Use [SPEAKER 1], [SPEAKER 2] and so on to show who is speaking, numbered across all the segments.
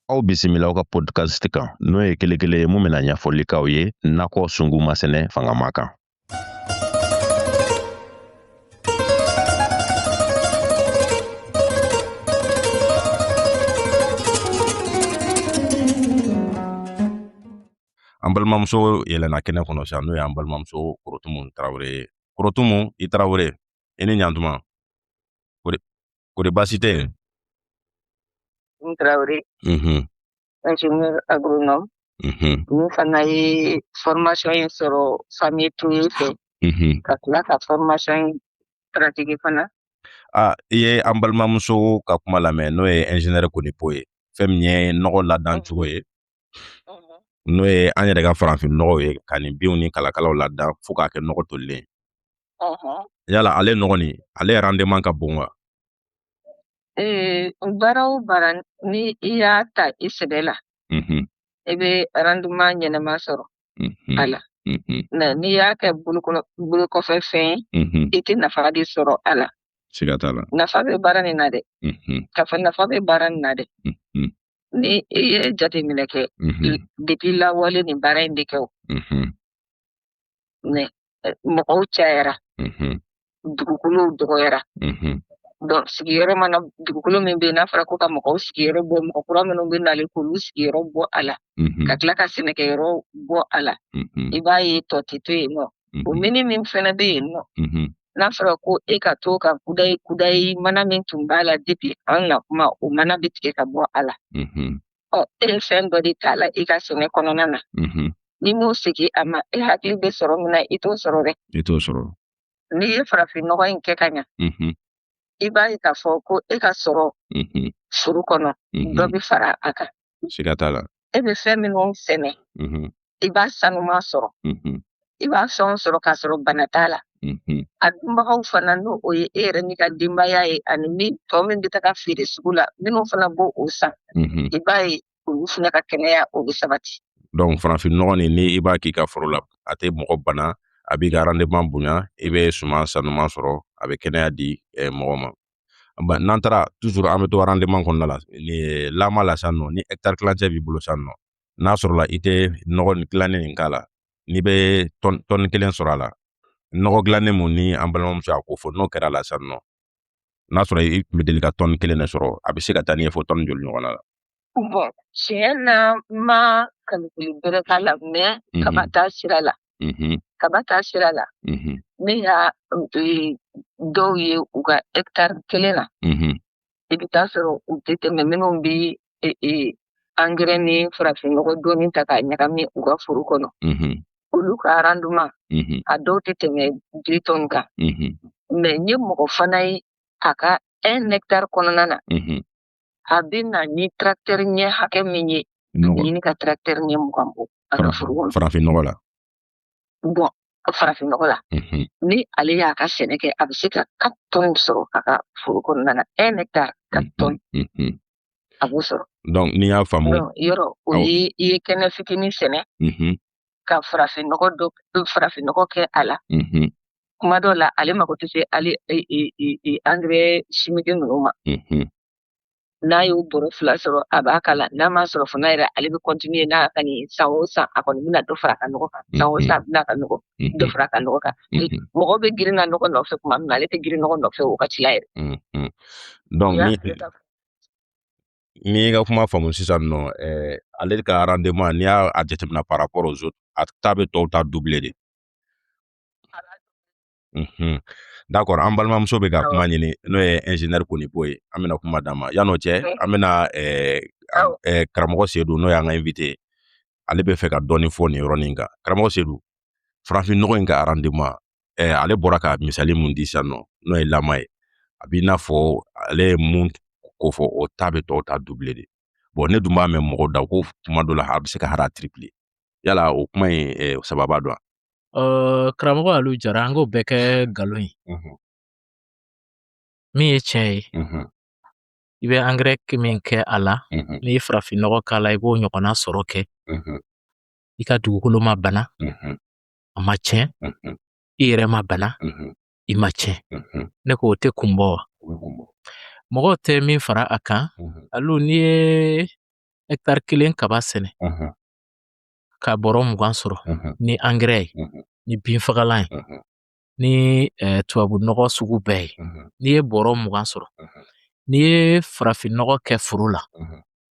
[SPEAKER 1] Aw bisimila aw ka podcast kan n'o ye kelekele ye mun bɛna ɲɛfɔli k'aw ye nakɔ sungu masɛnɛ fangama kan an balimamuso yɛlɛnna kɛnɛ kɔnɔ sisan n'o y'an balimamuso korotumu tarawele ye korotumu i tarawele i ni ɲantuma kori baasi tɛ yen n tarawele
[SPEAKER 2] ingénieur agronome min fana ye formation in sɔrɔ famille toye fɛ ka tila ka formation in pratique fana a i ye
[SPEAKER 1] an balimamuso ka kuma lamɛn n'o ye ingénieur konipo ye fɛn min ye nɔgɔ ladan cogo ye n'o ye an yɛrɛ ka farafin nɔgɔw ye ka nin binw ni kalakalaw ladan fo k'a kɛ nɔgɔ tolilen yala ale nɔgɔ nin ale rendement ka bon wa
[SPEAKER 2] baara o baara ni i y'a ta i sɛbɛ la i bɛ rendement ɲɛnama sɔrɔ a la mais n'i y'a kɛ bolo kɔfɛ fɛn i tɛ nafa de sɔrɔ a la siga t'a la nafa
[SPEAKER 1] bɛ baara nin na
[SPEAKER 2] dɛ k'a fɔ nafa bɛ baara nin na dɛ ni e ye jateminɛ kɛ depuis lawale nin baara in bɛ kɛ o mais mɔgɔw cayara dugukolow dɔgɔyara donc sigiyɔrɔ mana dugukolo min bɛ yen n'a fɔra ko ka mɔgɔw sigiyɔrɔ bɔ mɔgɔ kura minnu bɛ nalen k'olu sigiyɔrɔ bɔ a la ka tila ka sɛnɛkɛyɔrɔ bɔ a la i b'a ye tɔ tɛ to yen nɔ o mm-hmm. mini min fana bɛ yen nɔ mm-hmm. n'a fɔra ko e ka to ka kudayi kudayi mana min tun b'a la depuis an na kuma o mana bɛ tigɛ ka bɔ a la mm-hmm. ɔ e ye fɛn dɔ de t'a la i ka sɛnɛ kɔnɔna na n'i m'o segin a ma e hakili bɛ sɔrɔ min na i t'o sɔrɔ dɛ i t'o
[SPEAKER 1] sɔrɔ n'i ye
[SPEAKER 2] farafin nɔgɔ in kɛ ka ɲa i b'a ye k'a fɔ ko e ka sɔrɔ foro kɔnɔ dɔ bɛ fara a kan siga t'a
[SPEAKER 1] la e bɛ fɛn
[SPEAKER 2] minnu sɛnɛ mhm. i b'a sanuman sɔrɔ mhm. i b'a fɛnw sɔrɔ k'a sɔrɔ bana t'a la mhm. a dunbagaw fana n'o o ye e yɛrɛ n'i ka denbaya ye ani min tɔ min bɛ taga feere sugu la minnu fana b'o o san i b'a ye olu fana ka kɛnɛya o bɛ sabati donc farafin
[SPEAKER 1] nɔgɔ nin ni i b'a k'i ka foro la a tɛ mɔgɔ bana a b'i ka rendement bonya i bɛ suman sanuman sɔrɔ a bɛ kɛnɛya di eh, mɔgɔ ma ba n'an taara toujours an bɛ to rendement kɔnɔna la ni lama la sisan nɔ ni hectare tilancɛ b'i bolo sisan nɔ n'a sɔrɔla i tɛ nɔgɔ nin dilannen nin k'a la n'i bɛ tɔni tɔni kelen sɔrɔ a la nɔgɔ dilannen mun ni an balimamuso y'a ko fɔ n'o kɛr'a la sisan nɔ n'a sɔrɔ i tun bɛ deli ka tɔni kelen de sɔrɔ a bɛ se ka taa n'i ye fo tɔni joli ɲɔgɔnna la
[SPEAKER 2] Bɔn tiɲɛ na ma kalikili bɛrɛ k'a la mɛ kaba ta sira la kaba ta sira la ne y'a dɔw ye u ka hɛkitari kelen na i bɛ taa sɔrɔ u tɛ tɛmɛ minnu bɛ angɛrɛ ni farafinnɔgɔ dɔɔni ta k'a ɲagami u ka foro kɔnɔ olu ka arandema a dɔw tɛ tɛmɛ deux tonnes kan mɛ n ye mɔgɔ fana ye a ka un hectare kɔnɔna na a bɛ na ni tracteur ɲɛ hakɛ min ye a bɛ ɲini ka tracteur ɲɛ mugan bɔ a ka foro kɔnɔ farafin nɔgɔ la bɔn farafin nɔgɔ la ni ale y'a ka sɛnɛ kɛ a bɛ se ka quatre tonnes sɔrɔ a ka foro kɔnɔna na un hectare quatre tonnes a b'o sɔrɔ donc n'i y'a faamu
[SPEAKER 1] yɔrɔ o ye
[SPEAKER 2] i ye kɛnɛ fitinin sɛnɛ ka farafin nɔgɔ dɔ farafin nɔgɔ kɛ a la mhm. kuma dɔ la ale mako tɛ se ale e, e, e, angɛrɛ simiki ninnu ma mhm. n'a y'o bɔrɔ fila sɔrɔ a b'a k'a la n'a m'a sɔrɔ fana yɛrɛ ale bɛ kɔntiniye n'a ka nin san o san a kɔni bɛna dɔ fara a ka nɔgɔ kan san o san a bɛna ka nɔgɔ dɔ fara a ka nɔgɔ kan mɔgɔw bɛ girin na nɔgɔ nɔfɛ kuma min na ale tɛ girin nɔgɔ nɔfɛ o wagati la yɛrɛ
[SPEAKER 1] ni n y'i ka kuma faamu sisan nɔ ɛɛ ale ka arandema n'i y'a a jateminɛ par rapport aux autres a ta bɛ tɔw ta dubile de mhm. dakɔrɔ an balimamuso bɛ ka kuma ɲini n'o ye ɛnzinɛri konipo ye an bɛna kuma d'a ma yan'o cɛ an bɛna ɛɛ karamɔgɔ sedu n'o y'an ka invite ye ale bɛ fɛ ka dɔɔni fɔ nin yɔrɔnin kan karamɔgɔ sedu farafin nɔgɔ in ka arandema ɛ ale bɔra ka misali mun di sisan nɔ n'o ye lama ye a b'i n'a fɔ ale ye min kofɔ o ta bɛ tɔw ta dubile de bɔn ne dun b'a mɛn mɔgɔ da ko kuma dɔ la a bɛ se ka hali a tiripile yala o kuma in ɛ sababu dɔn wa
[SPEAKER 3] karamɔgɔ alu jara an k'o bɛɛ kɛ nkalon ye min ye tiɲɛ ye i bɛ angɛrɛ min kɛ a la n'i ye farafinnɔgɔ k'a la i b'o ɲɔgɔnna sɔrɔ kɛ i ka dugukolo ma bana a ma tiɲɛ i yɛrɛ ma bana i ma tiɲɛ ne ko o tɛ kun bɔ wa mɔgɔw tɛ min fara a kan alu n'i ye hɛkitari kelen kaba sɛnɛ ka bɔrɔ mugan sɔrɔ ni angɛrɛ ye ni binfagalan ye ni eh, tubabu nɔgɔ sugu bɛɛ ye n'i ye bɔrɔ mugan sɔrɔ n'i ye farafin nɔgɔ kɛ foro la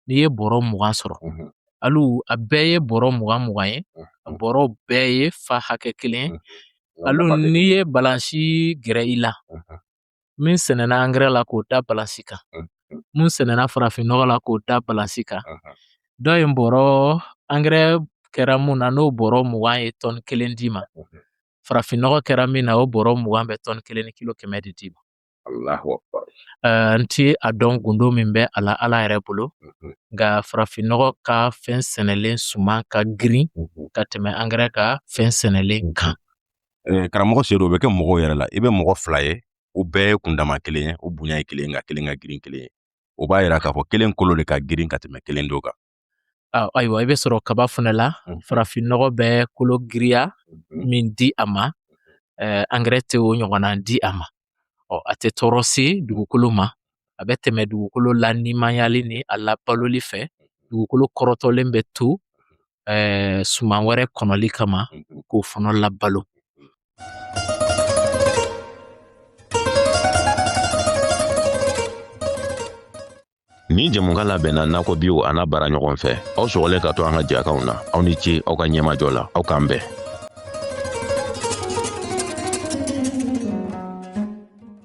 [SPEAKER 3] n'i ye bɔrɔ mugan sɔrɔ alu a bɛɛ ye bɔrɔ mugan mugan ye a bɔrɔ bɛɛ ye fa hakɛ kelen ye alu n'i ye balansi gɛrɛ i la min sɛnɛna angɛrɛ la k'o da balansi kan mun sɛnɛna farafinnɔgɔ la k'o da balansi kan dɔ ye bɔrɔ angɛrɛ kɛra mun na n'o bɔrɔ mugan ye tɔni kelen d'i ma farafinnɔgɔ kɛra min na o bɔrɔ mugan bɛ tɔni kelen ni kilo kɛmɛ de d'i ma
[SPEAKER 1] N
[SPEAKER 3] tɛ a dɔn gundo min bɛ a la Ala yɛrɛ bolo nka farafinɔgɔ ka fɛn sɛnɛlen suman ka girin ka tɛmɛ angɛrɛ ka fɛn sɛnɛlen kan
[SPEAKER 1] karamɔgɔ Sedu o bɛ kɛ mɔgɔw yɛrɛ la i bɛ mɔgɔ fila ye o bɛɛ ye kundama kelen ye o bonya ye kelen ye nka kelen ka girin kelen ye o b'a yira k'a fɔ kelen kolo de ka girin ka tɛmɛ kelen dɔ kan ayiwa
[SPEAKER 3] i bɛ sɔrɔ kaba fana la farafinnɔgɔ bɛ kolo giriya min di a ma angɛrɛ tɛ o ɲɔgɔnna di a ma ɔ a tɛ tɔɔrɔ se dugukolo ma a bɛ tɛmɛ dugukolo la nimayali ni a labaloli fɛ dugukolo kɔrɔtɔlen bɛ to suman wɛrɛ kɔnɔli kama k'o fana labalo
[SPEAKER 1] Ni jɛmukan labɛnna nakɔbiw an'a baaraɲɔgɔn fɛ aw sɔgɔlen ka to an ka jɛkanw na aw ni ce aw ka ɲɛmajɔ la aw k'an bɛn